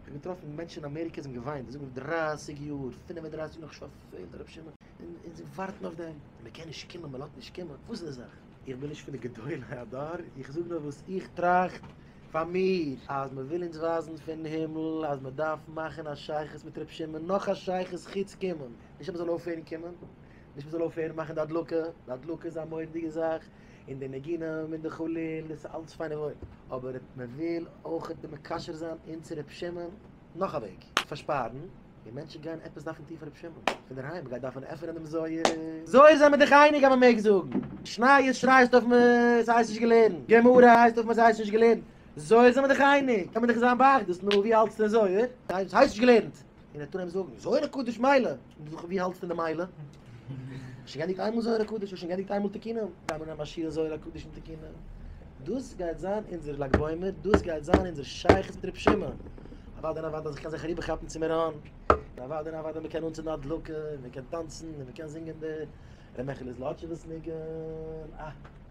כ'האב געטראפן מענטשן אין אמעריקע זענען געוואינט די זעלבע דרײַסיק יאר פֿינף און דרײַסיק נאך שבת פעלט הרב שמעון און זיי ווארטן אויף דעם און מען קען נישט קומען מען לאט נישט קומען וואס איז די זאך? איך בין נישט פון די גדולי הדור איך זאג נאר וואס איך טראכט פאר מיר אז מען וויל אונז ווייזן פון הימל אז מען דארף מאכן א שייכות מיט רב שמעון נאך א שייכות חוץ קומען נישט אז מען זאל אויפהערן קומען. נישט מען זאל אויפהערן מאכן די הדלקה, די הדלקה איז א מורא'דיגע זאך, און די נגינים און די חליל דאס איז אלץ פיין און וואויל, אבער מען וויל אויך די מקשר זיין אונז צו רבי שמעון, נאך א וועג צו פארשפארן, און מענטשן גייען עפעס דארפן טון פאר רבי שמעון, פונדערהיים מען גייט דארפן עפענען דעם זוהר. זוהר זעמער דיך אייניג אז מען מעג זאגן, משניות שרייסטו אויף מען עס הייסט נישט געלערנט, גמרא הייסט אויף מען עס הייסט נישט געלערנט, זוהר זעמער דיך אייניג, קען מען דיך זיין באחדות, נו ווי האלטסטו אין זוהר, עס הייסט נישט געלערנט, און ער טאר אים זאגן, זוהר הקדוש מילא, און דו זאגסט ווי האלטסטו די מילא? האסט שוין געענדיגט איינמאל זוהר הקדוש? האסט שוין געענדיגט איינמאל תקינא? גיי מיר נעם א שיעור זוהר הקדוש און תקינא. דאס גייט זיין אונזער לג בעומר, דאס גייט זיין אונזער שייכות מיט רבי שמעון. אוודאי און אוודאי אז איך קען זיך אריבערכאפן צו מירון, און אוודאי און אוודאי מ'קען אנצינדן א הדלקה, און מ'קען טאנצן, און מ'קען זינגען די ר' מעכיל איז לאטשעוועס ניגון, אה!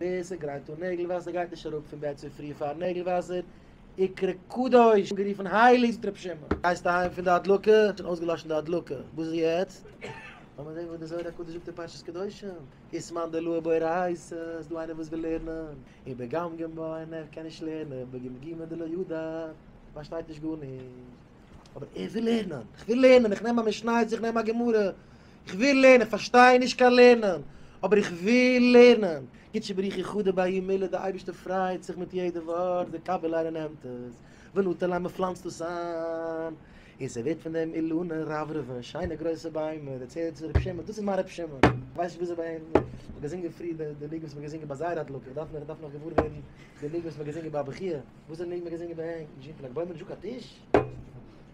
ווער ס'גרייט אן נעגל וואסער גייט נישט אראפ פון בעט צופרי פארן נעגל וואסער עיקרא קדוש, אנגערופן הייליג זאגט ר' שמעון. גייסט אהיים פון די הדלקה? האט שוין אויסגעלאשן די הדלקה, וואס איז יעצט? לאמיר זען וואס דער זוהר הקדוש זאגט אין פרשת קדושים, איז מאן דלא באי רייס עס, איז דא איינער וואס וויל לערנען, און בגמ ג באי ן ער קען נישט לערנען, בגמ ג דלא ידע פארשטייט נישט גארנישט, אבער ער וויל לערנען, איך וויל לערנען, איך נעם א משניות, איך נעם א גמרא, איך וויל לערנען, איך פארשטיי נישט קיין לערנען, אבער איך וויל לערנען. גיט שבריחי חדה ביי מילא די אייבערשטער פריידט זיך מיט יעדע ווארט די קאבעלארע נעמט עס ונתן להם מען פלאנצט עס איין און ס'ווערט פון דעם אילנער רברב'ן שיינע גרויסע ביימער דער צער צו ר' שמעון דאס איז מיין ר' שמעון ווייסט וויאזוי ביי אים מ'האט געזינגען פריער די די ניגון וואס מ'האט געזינגען ביי זייער הדלקה איך דארף איך דארף נאך געוואר ווערן די ניגון וואס מ'האט געזינגען ביי הבחי' וואס איז די ניגון מ'האט געזינגען ביי אים?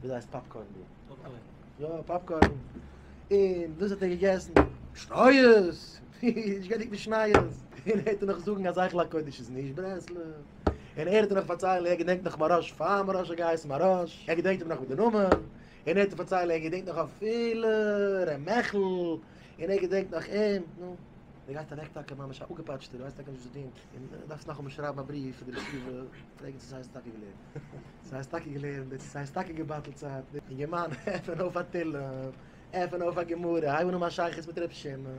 ווי דייסט פאפקארן דא פאפקארן יא פאפקארן אין דאס האט ער געגעסן שטויערס איך געדענק נישט נייעס אין האט נאך זאגן אז איך לאק קודש איז נישט ברעסל אין ער האט נאך פארציילן איך געדענק נאך מראש פאר מראש גייס מראש איך געדענק נאך מיט די נאמען אין האט פארציילן איך געדענק נאך אפיל רמחל אין איך געדענק נאך אים נו דער גייסט אוועק טאקע ממש א אפגעפאטשטער ווייסט טאקע נישט וואס צו טון אין דארפסט נאכאמאל שרייבן א בריוו פאר די רשיבה פרעגן צו סאיז טאקע געלערנט. סאיז טאקע געלערנט און צו סאיז טאקע געבטלט צייט. אינגערמאן עפען אויף א תהלים, עפען אויף א גמרא, הייב אן האבן א שייכות מיט ר' שמעון.